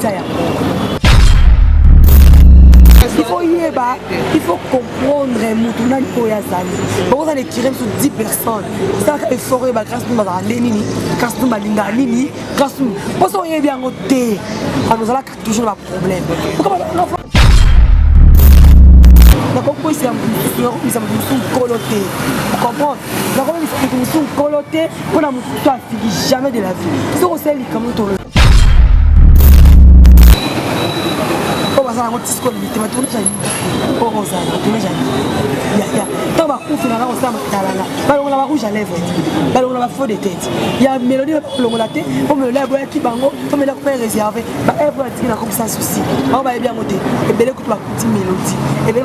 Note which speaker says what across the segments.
Speaker 1: tia yango koyeba il faut comprendre motu nani oyo azali okozala etire biso 10 personnes salaka effort oyeba grâce nini bazala nde nini grâce nini balingaka nini grâce nini mpo soki oyebi yango te bano ozalaka toujours na baproblème nakokoisa mosusu nakokomisa mosusu nkolo te comprendre nakokomisa mosusu nkolo te mpo na moto to afiki jamais de la vie soki osali likambo tolo oyo baza nango tisko limite batourne jali oyo kozala batourne jali yaya ntango bakufi nanga kosala matalana balongola ba rouge à lèvre te balongola ba faux de tête ya mélodie balongola te mpo mélodie aboyaki bango mpo mélodie akupa réserve baevre atiki na komisa souci bango bayebi yango te ebele kutu bakuti mélodie ebele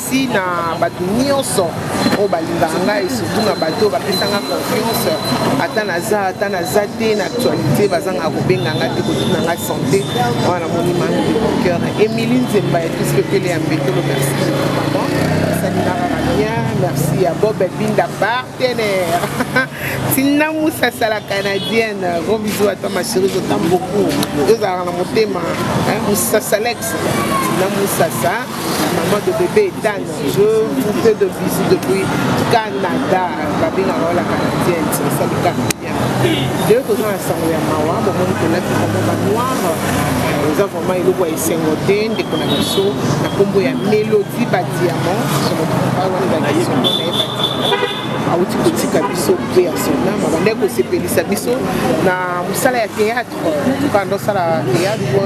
Speaker 2: merci na bato nyonso oyo balingaka ngai surtout na bato oyo bapesanga confiance ata naza ata naza te na actualité bazangaka kobenga ngai te kotuna ngai santé wana namoni mango de mon cœur emili nzemba ya tous pepele ya mbetolo merci esalinaka na bien merci ya bob binda partenaire tina musa sala canadienne gros bisous à toi ma chérie je t'aime beaucoup tozalaka na motema musasalex tina musasa maman de bébé Ethan, je vous fais de bisous depuis Canada. Babina Rola Canadienne, c'est ça le Canadien. Leo toza na sango ya mawa bomoni tolati bango banoire eza vraiment eloko ya esengo te ndeko na biso na nkombo ya mélodie badiamant somoawana bakisomo na ye badiamant awuti kotika biso mpe ya sona mabanda ya kosepelisa biso na mosala ya théâtre kanda osala théâtre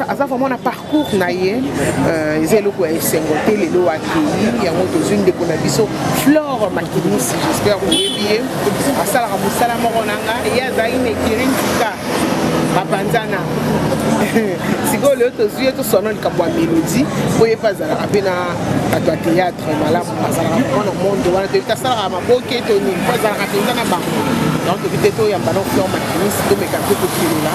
Speaker 2: aza vraiment na parcours na ye euh, eza eloko ya esengo te lelo akei yango tozwi ndeko na biso flore makinisi jespère oyebi ye asalaka mosala moko na nga ye azalaki na ekiri ntika bapanzana sikoyo lelo tozwi ye toswana likambo ya melodi mpo ye mpe azalaka mpe na bato ya théâtre malamu azalaka mpo na monde wana toyebi te asalaka maboke to nini mpo azalaka mpenza na bango donc toyebi te toyamba na flore makinisi tomeka mpe kokelela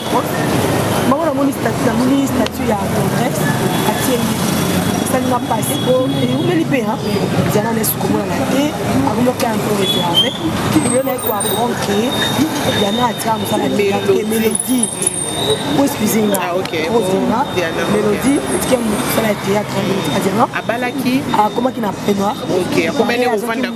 Speaker 2: bango namoni statut namoni statut ya congrès atie esalinga mpasi po eumeli mpe diana nesi komonana te akomoka ya mpo reserve yo naye koapprendre ke diana atia mosala te melodie po excuse nga ozima melodie etike mosala ya théâtre adiana abalaki akomaki na prenoir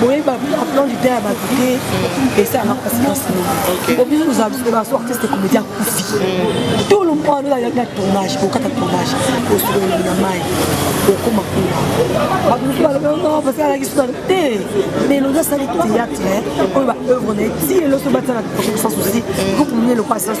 Speaker 1: boyebi baplan du temps ya bato te esalaka mpasi na solo obiso baso artiste komedi akufi tout le monde ayaki na tournage okata tournage osololi na mai okoma kuna bato mosusu balobaa parce alaki suna te mais elongi asali théâtre oyo baœuvre na ye ti eloso batala sans souci groupe mine lokwa sans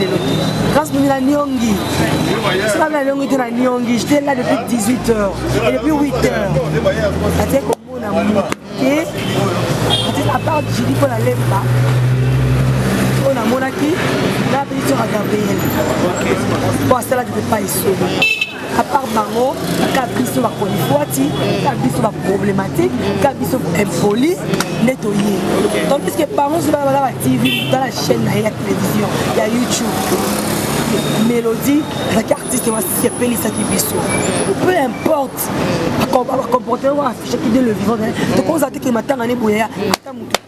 Speaker 1: lelo te grâce mimi na niongi sika na niongi te na niongi j'étais là depuis 18 heures et depuis 8 heures atie komona moto te atie à part jili mpo na lemba oyo namonaki na apesi soka gabriel mpo asalaki mpe pa esolo à part bango ka biso bakolifwati ka biso baproblématique ka biso impoli nde toye donc puisque bango soki bana ba tv tala chaîne na ye ya télévision ya youtube mélodie azalaki artiste wasepelisaki biso peu importe bacomportement affichaki de le vivant tokozala te ke matanga ne boyaya ata motu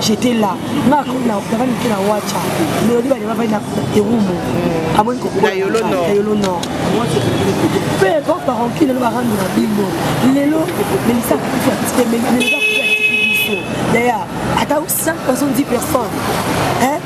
Speaker 1: j'étais là nga na na mike na wacha melodi bale ba na erumu amoni ko na yolo nord na yolo
Speaker 2: nord
Speaker 1: peu importe par enquête le barando na bimbo lelo mais ça fait petit mais mais ça fait petit d'ailleurs ata 5 personnes 10 personnes hein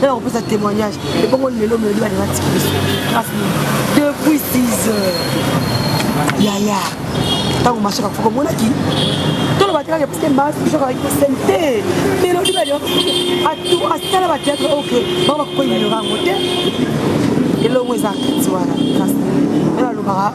Speaker 1: nana kopesa témoignage ebongo lelo melodi balinga tiki biso grâce nini depuis 6 heures yaya ntango mashaka kufa komonaki toloba te kaka parce que mashaka akosene te melodi balinga asala bateatre ok bango bakokoyinelora yango te elongo eza kati wana grâce nini nana alobaka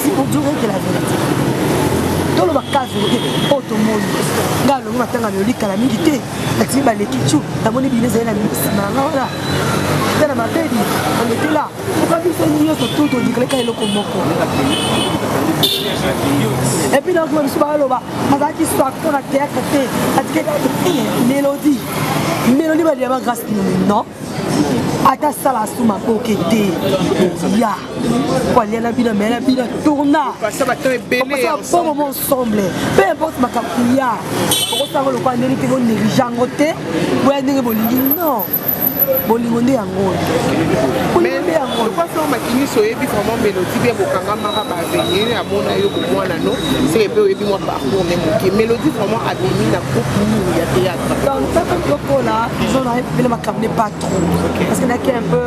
Speaker 1: si pour dire que la vérité toloba kazi oke oyo tomoni ngai alongi matanga na yolikala mingi te natimi baleki cu namoni bino ezali na nsima na ngai wana eza na mabebi alekela oka biso nyonso tu todikaleka eloko moko epuis nakoma biso baloba azalaki swaki mpo na théâtre te atikaki mélodie mélodie baliya ba grâce nomi non ata sala asuma koke te ya koaliana bino mela bino tourna
Speaker 2: bomo mo ensemble
Speaker 1: peu importe makambo ya okosanga lokola ndenge te boneglige yango te boya ndenge bolingi non bolingo nde yango oyo lokoso
Speaker 2: makinisi oyebi vraiment melodi mpe bokangamaka bavenir amona yo komwana no seke mpe oyebi mwa parcour ne moke melodi vraiment abimi na groupe nini ya théâtre donc tata lokola
Speaker 1: izo na epele makambo ne pas trop parce que naki un peu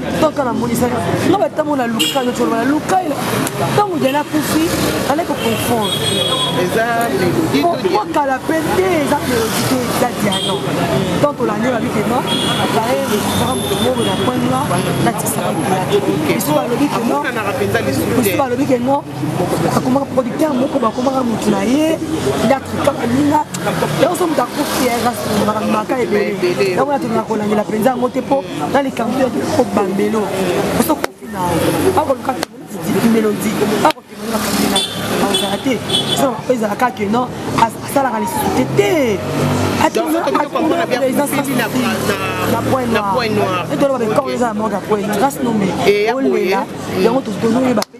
Speaker 1: kaka namonisaki nga batango na luka nyonso oloba na luka ntango jana akufi ale koconfondre
Speaker 2: pourkoi kala mpe
Speaker 1: te eza melodi te eza diano donc olandi olobi ke non baye lekutaka moto moko na point noir natikisaka biso balobi ke non biso
Speaker 2: balobi ke non
Speaker 1: akomaka producteur moko bakomaka moto na ye yatrika baninga yango so moto akufi erasmaka maka ebele yango natolona kolandela mpenza yango te mpo na likambo ya ko bambelo oso kofi na ako luka di melodi ako kemela kamela azala te so ezala ka que non asalaka lisusu te te
Speaker 2: atoloba
Speaker 1: bekor eza na mort ya pointe grâce nome olela yango tozoyeba mpe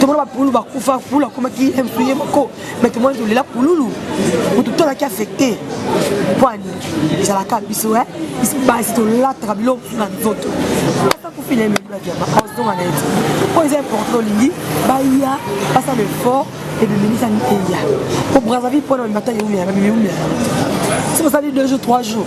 Speaker 1: tomona bapululu bakufa pulu akomaki mtu ye moko mai tomona tolela pululu motu tolaki affecte pwani ezalaka biso e basi tolataka biloko na nzoto asakufila ememlaki yaba ozonga na ete oyo eza importe olingi baya basala effort ebimelisani eya po brazzaville mpona bamibata yeumela bamimiumela soki osali deux jours trois jours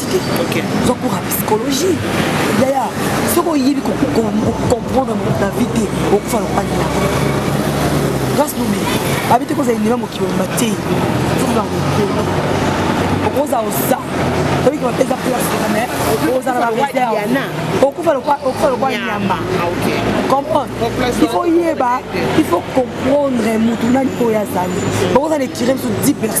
Speaker 1: diagnostique okay. oza
Speaker 2: cours ya
Speaker 1: psychologie yaya soki oyebi kocomprendre na vie te okufa lopani na grâce nobe babi te kozala elema mokili mobimba te ozala mokolo okoza oza oyiki bapeza place mais ozala na reserve okufa lokwa nyama
Speaker 2: comprendre
Speaker 1: il faut yeba il faut comprendre motu nani oyo azali okozala etire biso 10 personnes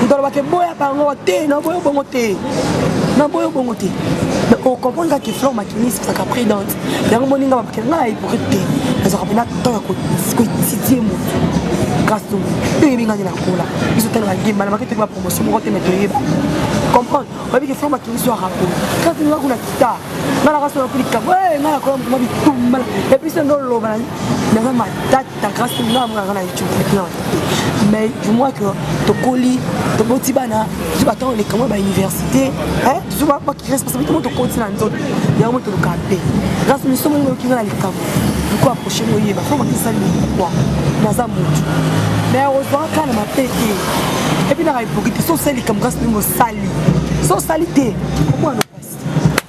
Speaker 1: moto alobaka eboya bango te na boyo bongo te na boyo bongo te mais ocomprendre kaka flor makinis ezalaka prudente yango moninga babakela ngai na hypocrite te nazalaka mpena temps ya koetidie moto grâce to mpe oyebi ngai nde nakola biso talaka gemba na maki toyebi bapromotion moko te me toyeba comprendre oyebi ke flor makinis yo arapo kaka tolinga kuna kita ngai nakasonakulikabo ngai nakola mokoma bitumbala epuis nde oloba naza matata ta grâce te nga amona nga na youtube te plan mais du moins que tokoli toboti bana biso batango lekamo ba université biso responsabilité mo tokoti na nzoto yango toluka mpe grâce miso moni oyoki nga na likambo loko approche moyeba fo makisali mokwa naza motu mais ozwaka na mabe te epuis naka epoki te so osali likambo grâce ndenge osali so osali te okoana pasi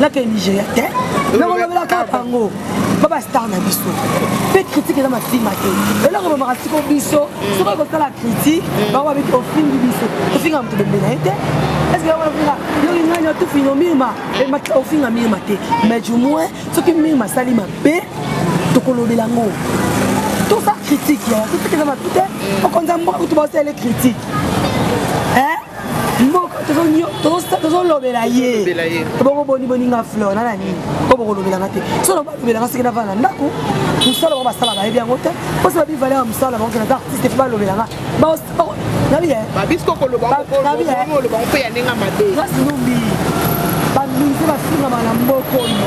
Speaker 1: nakei nigeria te nakolobelaka bango baba star na biso mpe kritike eza masima te eloko bamaka siko biso soki ekosala kritike bango babiki ofingi biso ofinga moto bembe na ye te eske ofinga yoki ngai natufino mirma ofinga mirma te mais du moins soki mirma asali mabe tokolobela yango tosa kritike ya kritike eza mabe te okonza mboka kutu baosala ele kritike mboka tozolobela ye ebongo boni boni nga fleur na na nini po bokolobela nga te so na balobela nga soki navanda ndako mosala bango basala bayebi yango te mposo babi valeur ya mosala bango kena ta artiste po balobela nga
Speaker 2: nabiyeasi numbi
Speaker 1: baminise bafingamaka na mboko oyo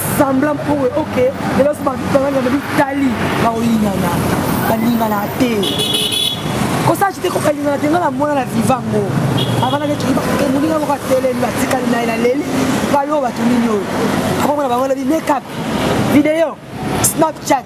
Speaker 2: semblant
Speaker 1: mpo oyo ok lelo so babalingana bitali baolingana balingana te kosala te kokalingana te ngai namona na viva yango avanda neti moninga moko atelemi batikali na ye na leli bayo bato nini oyo akomona bango na bimekap video snapchat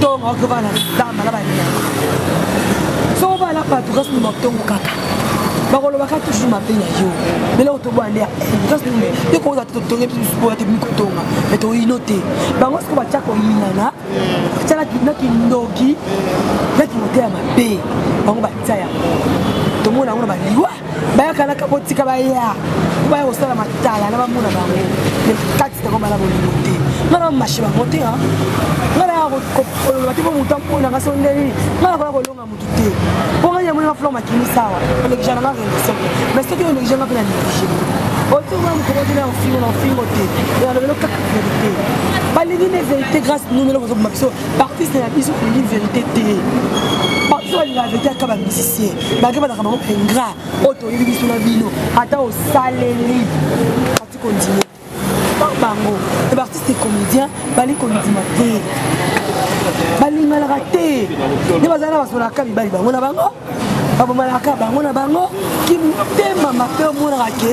Speaker 1: tongo akoba na zamba na banyama soko bana bato kasi numa tongo kaka bakolobaka toujours mabe na yo lelo otoboya nde kasi nume te koza te totonge biso supoya te bimi kotonga me toyino te bango siko batya koyinana batya na kindoki na kimoteya mabe bango batya yango tomona yango na baliwa bayakanaka botika baya baya kosala matala na bamona bango kati na kobala bolingo te nga na mashe bango te nga na koloba te po moto ampona nga so nde nini nga nakoya kolonga motu te po nga yango nga flor makimi sawa olekija na nga relation mais soki olekija nga mpe na néglige otonga mokolo te na ofingo na ofingo te nalobelo kaka verité balingi nde verité grâce numelo kozoboma biso baartiste na biso olingi verité te bato balinga verité aka bamisicien bake bazaka bango baingra oyo toyebi biso na bino ata osaleli ati kondima bango e baartiste comédien bali kondima te balinganaka te nde bazali na basolaka mibali bango na bango babomalaka bango na bango kimotema mabe omonaka ke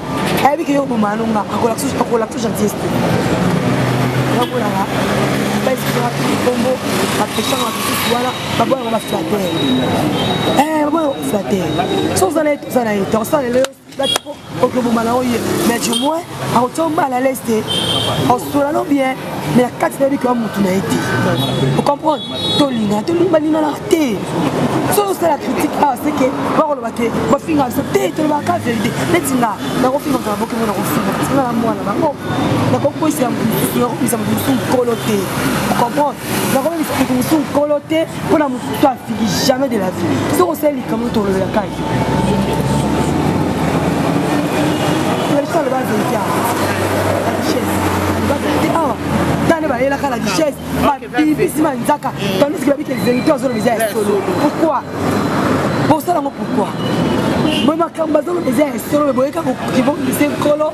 Speaker 1: ayebi ke yo oboma no nga akolakisa gentillesse te bakolaka baeskraki likombo bapesaka basusu wana baboyaka baflater baboyaka baflater so oza na ye toza na ye tokosala lelo okoboma na oye mais du moins akotia yo mal à l'aise te osola no bien mais na kati nayebi kaka motu na ye te ocomprendre tolingana tolimbalimana te soki osala critique awa seke bakoloba te bafinga biso te tolobaka verité neti nga nakofinga ozala bokemo nakofinga tina na mwana bango nakokoisa mosusu nakokomisa mosusu nkolo te ocomprendre nakokomisa mosusu nkolo te mpo na moto to afiki jamais de la vie soki osali likambo tolobela kai lalisa aloba verité awa tane bayelaka la duchesse babibisi manzaka tandisiki babike verité azoloba eza ya solo pourquoi bosala yango pourquoi boye makambo bazoloba eza ya solo boyeka kokibongisa nkolo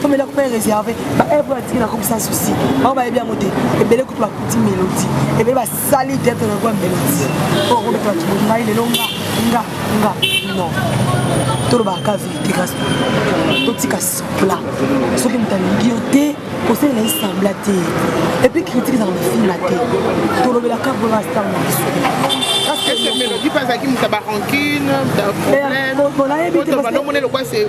Speaker 1: comme eloko mpe réservé baevre oyo atiki nakobisa souci bango bayebi yango te ebele kutu bakuti mélodie ebele basali tete na kwa mélodie oyo kobeta bato bongai lelo nga nga nga non tolobaka verité kasi totika sembla soki moto alingi yo te kosalela ye sembla te epuis critique ezaka mafina te tolobelaka vrema star na biso Est-ce que Mélodie pas à qui mouta ba rancune,
Speaker 2: ba problème, quand on va l'homme, on est le quoi, c'est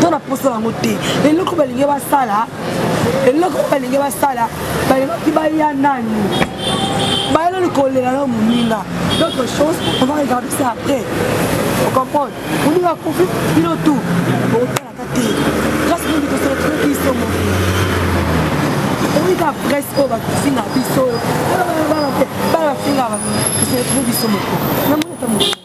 Speaker 2: to na posa yango te eloko balingi basala eloko balingi basala balingaki baya nani baya nani kolela na moninga d'autre chose on va regarder ça après ocomprendre moninga akufi bino tout bokotalaka te grâce mingi tosolotolaki iso moke oyika presse oyo bakofinga biso bana bafinga basolotoli biso moko namoni ata moto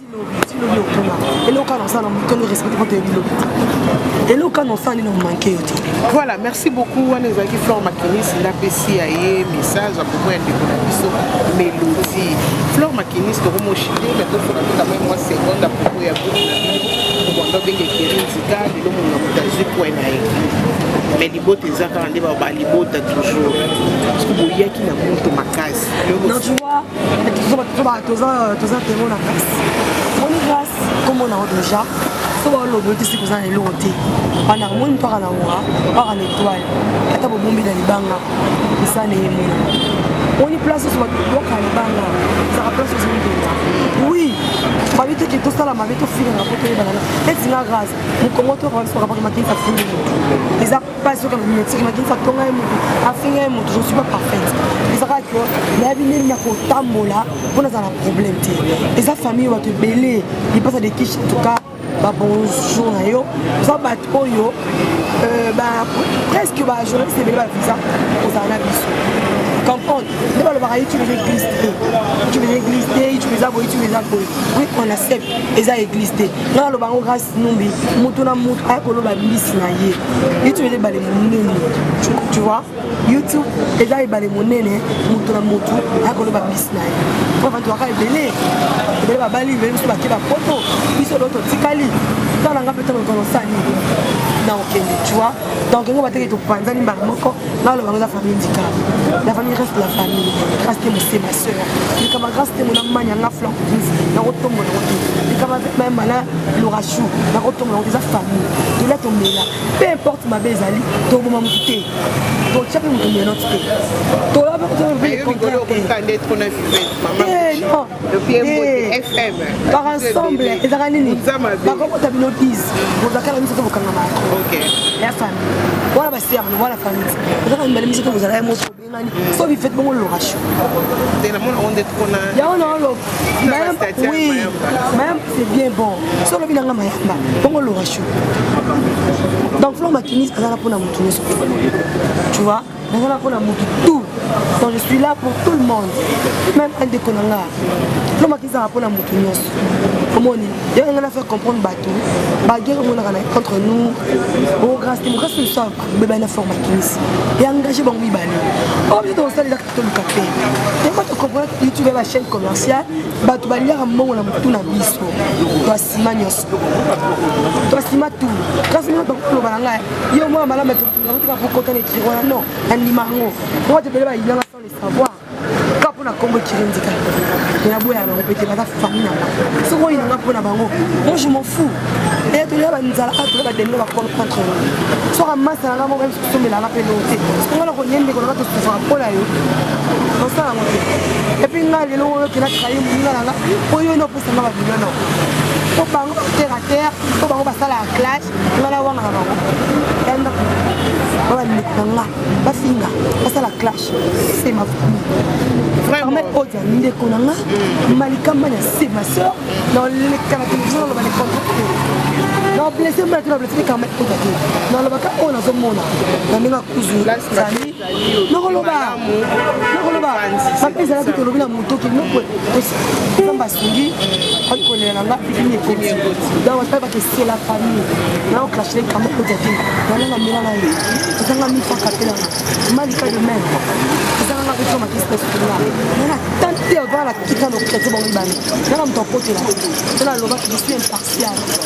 Speaker 2: voilà merci beaucoup wana ezalaki flore makinisi napesi ya ye message akomoya ndeko na biso melodi flore makinisi tokomoshide me tofola mpe kamai mwa seconde apropos ya groupe na bino mobondo obenge keri nzika lelo monga moto azwi pwe na ye me libota eza kaka nde balibota toujours parce que boyaki na moto makasi
Speaker 1: toza temo na grâce moni grâce kombo na yo déjà so baoloba otisi koza na eloko te wana omoni mpaka na wura mpaka na etoile ata bobombi na libanga eza na emona oni place oso babwaka libanga ezaka place oso mpenza oui babi teke tosala mabe tofingana po toyebanana etinga grâce mokongo to ransokapaki makinisa fulu eza basi oyo kalobi motiki makinisa tonga ye motu afinga ye motu je suis pas parfaite eza kaka ke nayebi ndeni na kotambola mpo nazala na problème te eza famille bato ebele lipasa de kish entuka babonjour na yo oza bato oyo euh, presque bajournaliste ebele bavisa kozala na biso comprendre nde balobaka ye tube eza église te tube eza église te tube eza boye tube eza boye oui on accepte eza église te nga naloba yango grâce numbi moto na moto aya koloba mbisi na ye youtube eza ebale monene tu vois youtube eza ebale monene moto na moto aya koloba mbisi na ye po bato baka ebele ebele babali ebele mosusu bake bapoto biso loo totikali tala nga mpe tala otonosani na okende tu vois donc yango bateke topanzani mbala moko naloba yango eza famille ndika la famille reste la famille grâce te mose ma sœur likama grâce te mona manya nga flanc plus nakotombola yango te likama mayemba na lorachou nakotombola yango te eza famille tolia tomela peu importe mabe ezali toboma motu te totya mpe motu menote te toloba mpe kotoa mpe contraire te
Speaker 2: par ensemble
Speaker 1: ezalaka nini bakobota bino 10 bozalaka na miso te bokangama ya famille wana basiamno wana famille ozalaka mibale miso te bozalaka ye moto obengani so bifete bongo loration yango naoloba oui mayamba c'est bien bon so olobi nanga mayamba bongo loration donc flo makinis azala mpona moto nyonso tu vois nazala mpona moto tout donc je suis là pour tout le monde même andeko na nga lomaki ezala mpona moto nyonso omoni yango ngai na faire comprendre bato baguerre omonaka na entre nous o grâce démocratie liso abebani na forme akinisi e engage bango mibale oyo biso tokosalelaka toluka mpe yango tocomprendre youtube ya bachaîne commerciale bato baliaka mbongo na motu na biso toasima nyonso toasima tout kasi mino bakoloba na ngai yo mwana malama nakotika kokota na ekiri wana non nandima yango moko te ebele bayinanga sans le savoir ka mpo na kombo ekiri ndika me naboya na bango pete baza fami na nga soki oyinanga mpo na bango moi je m'en fou eye tolia banzala a tolia bademino bakolo contre yo soki amasa na nga moko yebisi kosombelanga mpe loo te soki nga na konie ndeko na nga tosufaka mpo na yo tosala yango te epuis nga lelo oyo okenda trahi moninga na nga mpo yo ene opesanga babilo nao mpo bango batera terre mpo bango basala ya classe nga nawangaka bango ya ndako baba ndeko na nga bafinga basala clash se ma famille odia ndeko na nga mm. malikamba ya se ma sœur naoleka na televizio naloba le contraire nablese mbala te nablese te kama odia te nalobaka oyo nazomona na ndenge akuzu nakoloba nakoloba bape ezalaki tolobi na moto kinoko nzambe asungi ali kolela na nga pipini ekoti donc bape bakesela famille nao clashele kama kota te nananga mela na ye ezanga mifaka te nanga malika de meme ezanga nga kotika makisi na sukuna nana tante avaa na tika na okretie bango ibani nana moto akotela te nana alobaki je suis impartial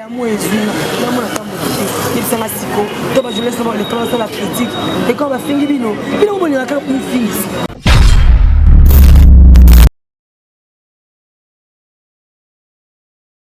Speaker 1: Yamo ezwi nga yamo na kambo te yebisa nga siko to ba journaliste na ba lekolo basala critique ekolo bafingi bino bino bomonelaka mofingisi